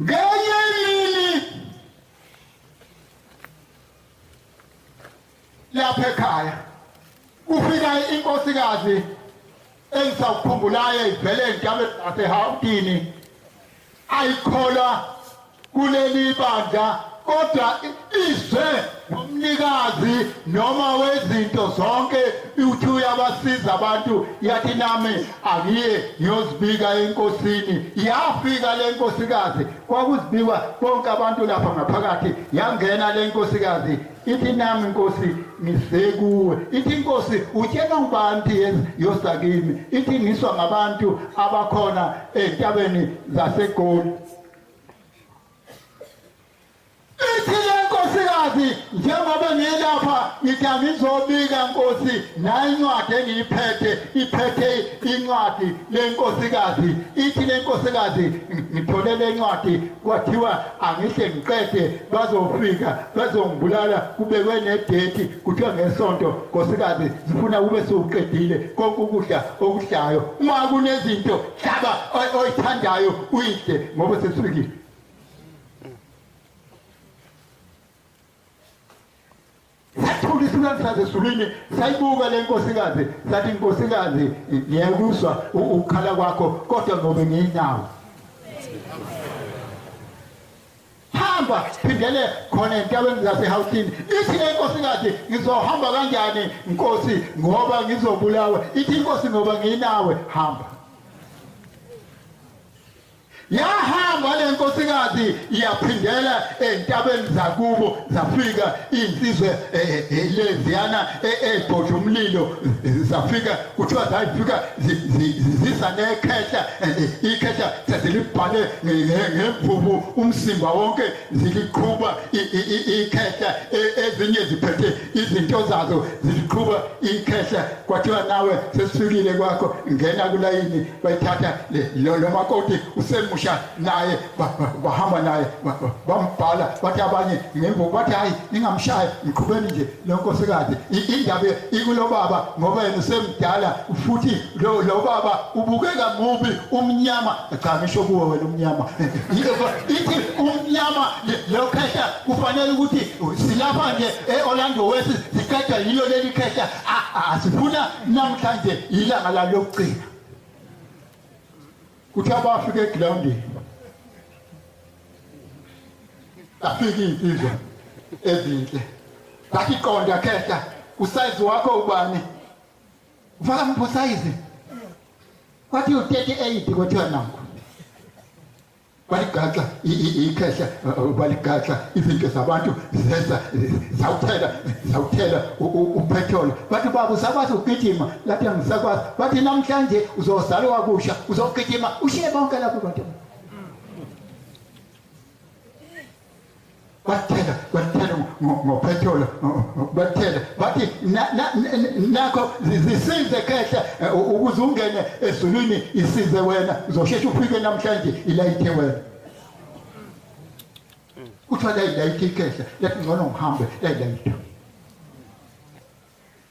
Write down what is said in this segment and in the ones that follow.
ngenye imini lapha ekhaya kufika inkosikazi engisakukhumbulayo ivele entabeni nasehawutini ayikholwa kuleli bandla kodwa izwe nomnikazi noma wezinto zonke uthi uyabasiza abantu yathi nami angiye ngiyozibika enkosini yafika le nkosikazi kwakuzibikwa bonke abantu lapha ngaphakathi yangena le nkosikazi ithi nami inkosi ngisekuwe ithi inkosi utshela ngibantu yenza yosakimi ithi ngiswa ngabantu abakhona entabeni zasegoli Nkosi njengoba ngilapha ngithi angizobika Nkosi nayi incwadi engiyiphethe iphethe incwadi lenkosikazi ithi lenkosikazi ngithole lencwadi kwathiwa angihle ngiqede bazofika bazongibulala kubekwe nedate kuthiwa ngesonto nkosikazi zifuna kube sewuqedile konke ukudla okudlayo uma kunezinto hlaba oyithandayo uyidle ngoba sesifikile sathula isilwane saze sulwini sayibuka le nkosikazi sathi nkosikazi ngiyakuzwa ukukhala kwakho kodwa ngobe ngiyinawo hamba phindele khona entabeni zasehawutini ithi le nkosikazi ngizohamba kanjani nkosi ngoba ngizobulawa ithi inkosi ngoba ngiyinawe hamba Yahamba le nkosikazi yaphindela entabeni zakubo zafika insizwe leziyana ebhodla umlilo zafika kuthiwa zayifika zisa nekhehla ikhehla sezilibhale ngemvubu umsimba wonke ziliqhuba ikhehla ezinye ziphethe izinto zazo ziqhuba ikhehla kwathiwa nawe sesifikile kwakho ngena kulayini bayithatha lo makoti usemusha naye bahamba naye bambhala bathi abanye ngemvu bathi hhayi ningamshayi mqhubeni nje lo nkosikazi indaba ikulobaba ngoba yena usemdala futhi lo lo baba ubukeka mubi umnyama cha ngisho kuwe wena umnyama ithi umnyama lo khehla kufanele ukuthi silapha nje e-orlando west siqeda yilo leli khehla asifuna namhlanje yilanga la lokugcina kuthi abafika egrawundini afike iy'nsizwa ezinhle zathi qonda khehla usayizi wakho ubani Ufaka mphosayizi. Wathi u38 kuthiwa nakho. Waligaxa ikhehla waligaxa izinto zabantu zeza zawuthela zawuthela upetrol bathi baba usakwazi ukugijima lathi angisakwazi bathi namhlanje uzozalwa wakusha uzogijima ushiye bonke lapho bantu kwathela kwathela ngophetholo kwathela bathi nakho zisize khehla eh, ukuze ungene ezulwini isize wena uzosheshe ufike namhlanje ilayithe wena kuthiwa layilayithe ikhehla lathi ngcono ngihambe layilayitha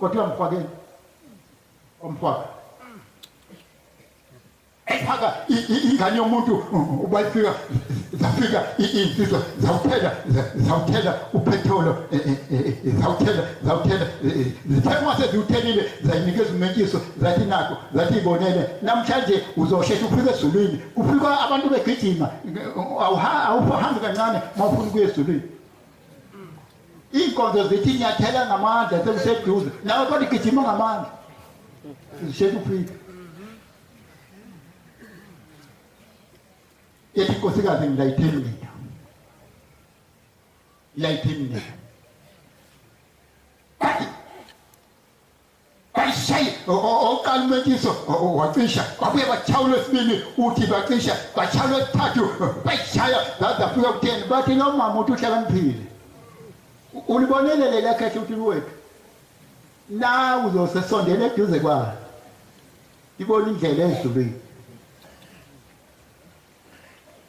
Kodwa mfakeni. Omfaka. Phaka ingane yomuntu ubayifika zafika insizwa zawuthela zawuthela uphetholo e, e, e, zawuthela zawuthela zithekwa seziwuthelile zayinikeza umenkiso zathi nakho zathi ibonele namhlanje uzoshesha ufike ezulwini kufika abantu begijima awuhambi kancane mawufuna ukuya ezulwini Iinkonzo zithi nyathela ngamandla sekuseduze nawe kodwa igijima ngamandla zisheshe ufike ethi inkosikazi ngilayitheni mina layitheni mina bayishaye okokuqala umentiso wacisha babuye bashaya olwesibili uthi bacisha bashaya olwesithathu bayishaya zaze afika kutheni bathi lo mama uthi uhlakaniphile ulibonele leli akhethe ukuthi luwethu na uzosesondela eduze kwayo ibona indlela edlulile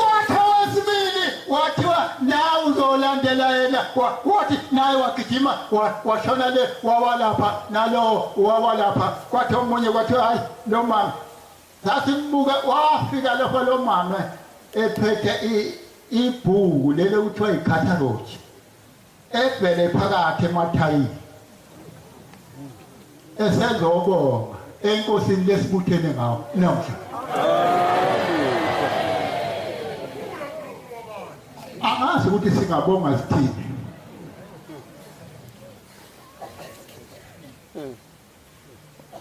wathi owesibili wathiwa nawe uzolandela yena wathi naye wagijima washona le wawalapha nalowo wawalapha kwathi omunye kwathi hayi lo mama sasimbuke wafika lapho lo mama ephethe ibhuku lelo kuthiwa yikhatharoji Ebhele phakathi emathayini esezobonga enkosini lesibuthene ngawo namhla angazi ukuthi singabonga sithini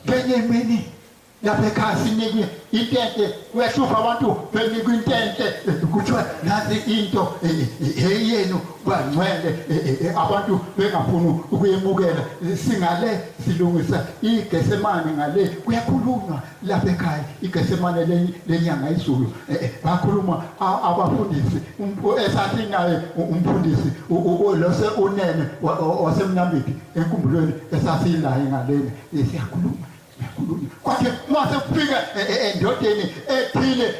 ngenye imini lapha ekhaya sinikwe intente kuyahlupha abantu benikwa intente kuthiwa nazi into eyenu bangcwele abantu bengafuni ukuyemukela singale silungisa igesemane ngale kuyakhulunywa lapha ekhaya igesemane lenyanga izulu bakhuluma abafundisi um, esathi naye umfundisi lose unene wasemnambithi enkumbulweni esasinaye ngaleni siyakhuluma kwase mase kufika e, e, endodeni ethile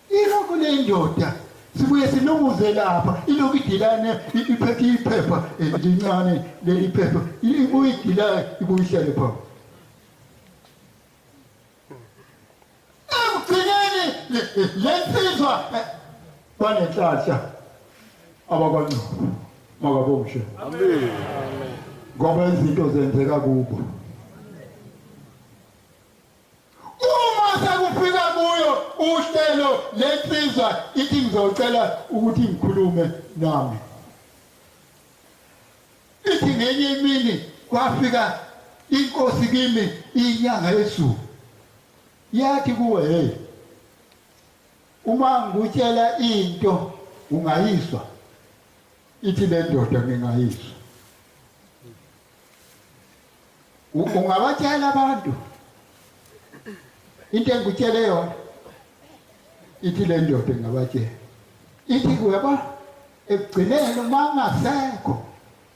ilokho lendoda sibuye silunguze lapha ilokhu idilane iphethe iphepha e, lincane leli phepha ibuye idilane ibuye ihlale phambi ekugcineni lensizwa banenhlanhla abakwancaba makabomshe ngoba izinto zenzeka kubo uma sekufika kuyo uhlelo lensizwa ithi ngizocela ukuthi ngikhulume nami ithi ngenye imini kwafika inkosi kimi inyanga yezulu Yathi kuwe, hey, uma ngikutshela into ungayizwa, ithi le ndoda ngingayizwa. U- Ungabatshela abantu into engikutshele yona, ithi le ndoda ingabatshela. Ithi kuwe, yabo, ekugcineni uma ungasekho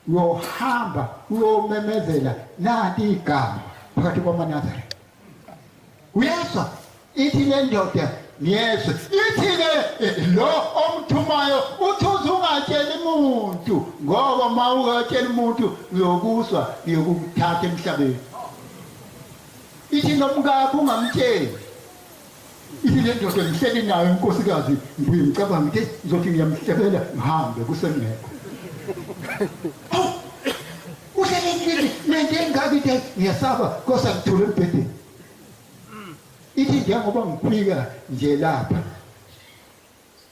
uyohamba uyomemezela nanti igama phakathi kwamanazare uyezwa ithi le ndoda ngiyezwa ithi-ke eh, lo omthumayo uthi uze ungatsheli muntu ngoba ma ungatsheli muntu uyokuswa uyokukuthatha emhlabeni ithi nomkakho ungamtsheli Ithi le ndoda ngihleli nayo unkosikazi ngibuye ngicabange ukuthi ngizothi ngiyamhlebela ngihambe kusengekho awu uhlelekile nento engaka into ngiyasaba kosa ngithule embhedeni ithi njengoba ngiphika nje lapha